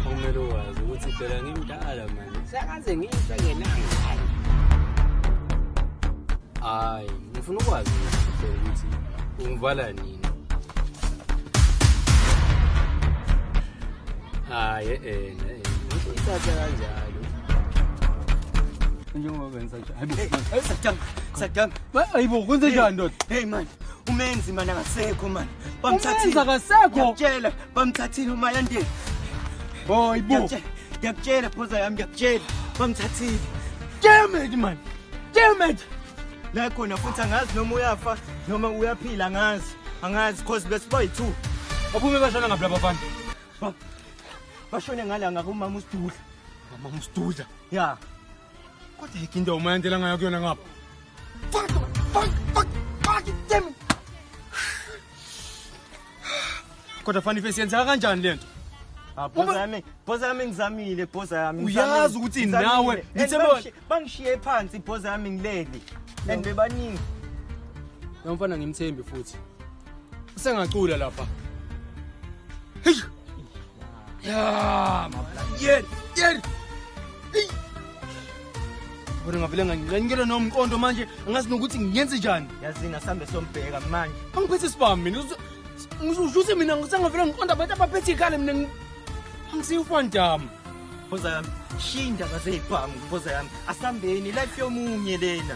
Kumele wazi ukuthi phela ngimdala manje. Sakaze ngife ngenanga. Hayi, ngifuna ukwazi ukuthi ungivala nini. Hayi, eh, eh. Ngithatha kanjalo. Njengoba benza ayibo kwenze njani ndoda hey man umenzi mani akasekho mani bamthathile akasekho tshela bamthathile umayandeni oh ayibo ngiyakutshela phoza yami ngiyakutshela bamthathile damn it man damn it la khona futhi angazi noma uyafa noma uyaphila angazi angazi cause besiba yi-two baphume bashona ngaphi laba bantu bashone ngala ngakumama usidudla mama usidudla ya yeah. kodwa yikho into umayandela ngayo kuyona ngapha fuck fuck fuck fuck damn kodwa fani face yenzeka kanjani lento Ah, Bhoza Uma- yami, bhoza yami ngizamile, bhoza yami. Uyazi ngizamile, ukuthi ngizamile. nawe, And ngithe bona- bangishi- Bangishiye phansi bhoza yami ngileli. And bebaningi. lo mfana ngimthembi futhi usengacula lapha Hey! ya mablangiyeni yeni Bona ngavele ngangiqenikele nomqondo manje angazi nokuthi ngiyenze njani. Yazini asambe sombheka manje. Angiphethe isibami mina. Ngizushuthi mina ngisangavele ngiqonda abantu abaphethe ikhale mina angisiyufandama. Khoza yami shinda kaze ibhamu khoza yami asambeni life yomunye lena.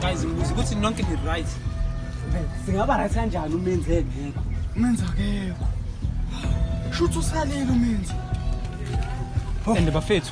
guys ngibuza ukuthi nonke ni-right singaba right kanjani umenzi engekho umenzi akekho shuthi usalile umenzi and bafethu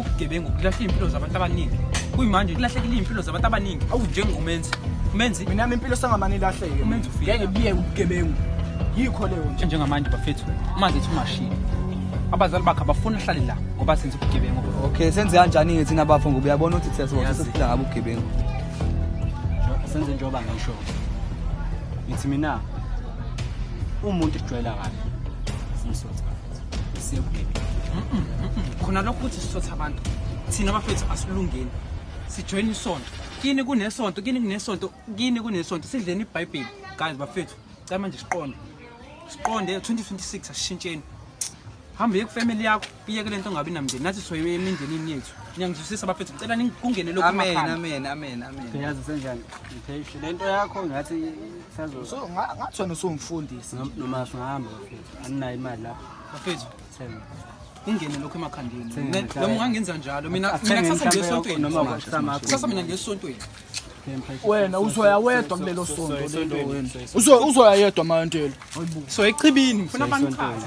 ubugebengu kulahla iy'mpilo zabantu abaningi kuyimanje kulahlekile iy'mpilo zabantu abaningi awu njengomenzi umenzi mina yami impilo sangamane ilahleke umenzi ufike ngeke biyeke ubugebengu yikho leyo nje njengamanje bafethu uma zithi umashini abazali bakhe abafuni ahlale la ngoba senza ubugebengu okay senze kanjani-ke thina bafo ngoba uyabona ukuthi thina sibosa sesiphila ngabo ubugebengu senze njengoba ngisho ngithi mina umuntu ejwayela kabi simsotha siyobugebengu khona lokho ukuthi sisotha abantu thina bafethu asilungeni sijoyina isonto kini kunesonto kini kunesonto kini kunesonto sidleni ibhayibheli guys bafethu cala manje siqonde siqonde 2026 asishintsheni hambe ye kufamily yakho iyeke lento ngabe namndeni nathi soyiwe emindenini yethu niyangizwisisa bafethu ngicela nikungene lokho amen amen amen amen uyazi senjani ngiphehle lento yakho ngathi sazo so ngathi wena usumfundisi noma singahamba anginayo imali lapho bafethu thenga ungene lokho emakhandeni noma ungangenza njalo mina mina kusasa ngesontweni noma kusasa mina ngesontweni wena uzoya wedwa kulelo sonto lelo uzoya yedwa mayantelo so echibini ngifuna banichaze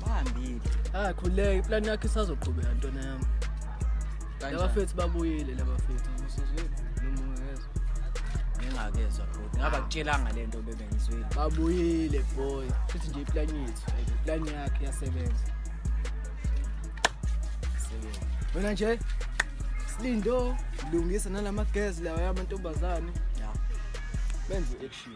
Bahambile. Ah khuleke plan yakhe isazoqhubeka ntwana yami. Labafethu babuyile labafethu. Musuzwile noma ungezwa. Ngingakezwa futhi. Ngaba kutshelanga lento bebengizwile. Babuyile boy. Futhi nje iplan yethu, iplan yakhe yasebenza. Sebenza. Wena nje Lindo lungisa nalamagezi lawa yamantombazane. Yeah. Benze action.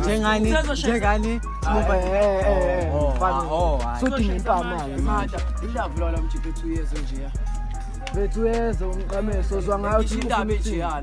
njengani njengani sudinga impamalo bethu yeze njeya bethu yeze umqameso uzwa ngayo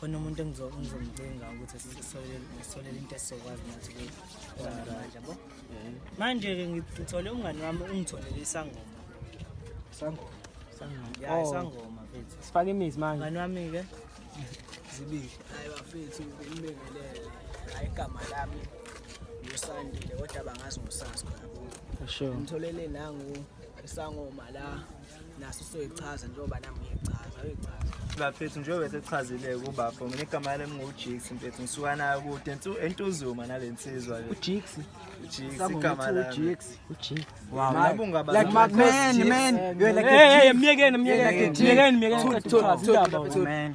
khona umuntu engizomcinga ukuthi sisolele into esizokwazi nathi manje bo manje-ke ngithole umngani wami ungitholele isangoma isangoma ya oh. isangoma fethu sifake imizi manje mngani wami-ke zibili hayi bafethu bengibengelele hayi igama lami ngusandile kodwa bangazi ngusasi khona ngitholele nangu isangoma la naso soyichaza njengoba nami ngiyichaza uyichaza bafethu njengoba sechazile kubafo mina igama lami ngingujiks mfethu ngisuka nayo kude entuzuma nale nsizwa le ujiks igama lami myekeni myekeni myekeni myekeni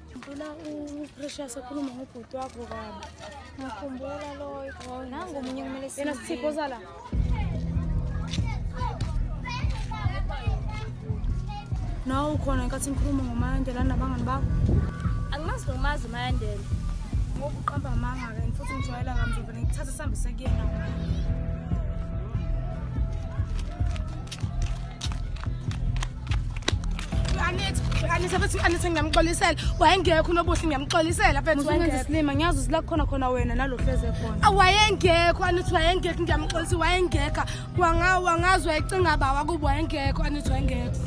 Ngicela uPrecious akhulume ngobhuti wakho kabi. Ngikhumbula loyo. Oh, Nangu omunye kumele siye. Yena sithipho sala. Nawe ukhona nkathi ngikhuluma ngoMalandela nabangani bakho? Angimazi nomazi uMalandela. Ngoba uqamba amanga-ke futhi ngijwayela kamzovele ngikuthathe sihambise kuyena. anise futhi anise ngiyamxolisela wayengekho unobuhle ngiyamxolisela fethisilima ngiyazi usila khona khona wena nalo hleze khona ah, wayengekho anithi wayengekho ngiyamxolisa wayengekha wangazi wayecinga bawa kubo wayengekho anithi wayengekho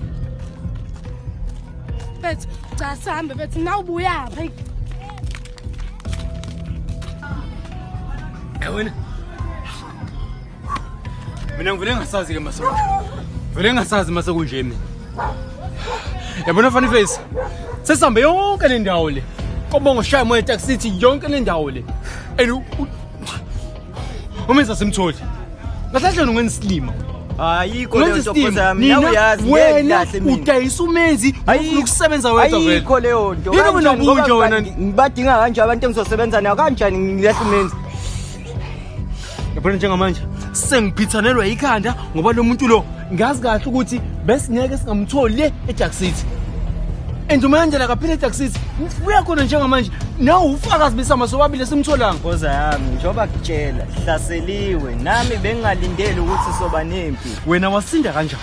fethu cha sihambe fethu nawubuyapha yawena mina ngivele ngasazi-ke maso vele ngasazi mase kunje mina yabona funny face sesihambe yonke le ndawo le kobonga ushaya moya etaxity yonke le ndawo le and umenza simtholi ngahlahleni ungenisilima ayikho leyo nto khosi yami nawe uyazi wena udayisa umenzi ufuna ukusebenza wedwa vele ayikho leyo nto yini mina kunje wena ngibadinga kanje abantu engizosebenza nayo kanjani ngilahle umenzi yabona njengamanje sengiphithanelwa yikhanda ngoba lo muntu lo ngazi kahle ukuthi besingeke singamtholi le ejack city and umayandela kaphile ejack city uya khona njengamanje nawe ufakazi besama sobabili esimtholanga nkoza yami njengoba kutshela hlaseliwe nami bengingalindeli ukuthi soba nempi wena wasinda kanjani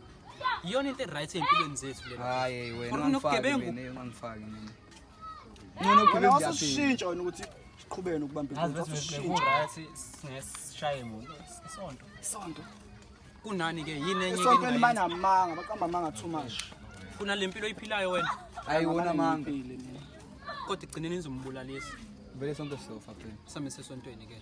iyona into e-right ey'mpilweni zethu lenokugibengungangifaki mina ncono gibengushintsha wena ukuthi siqhubene ukubambesishaye muntu isonto isonto kunani-ke yini enye isonto elimanamanga baqamba amanga too much funa le mpilo oyiphilayo wena hayi wona amanga kodwa igcineni nizombulalisa vele sonke sizofa phela sami sesontweni ke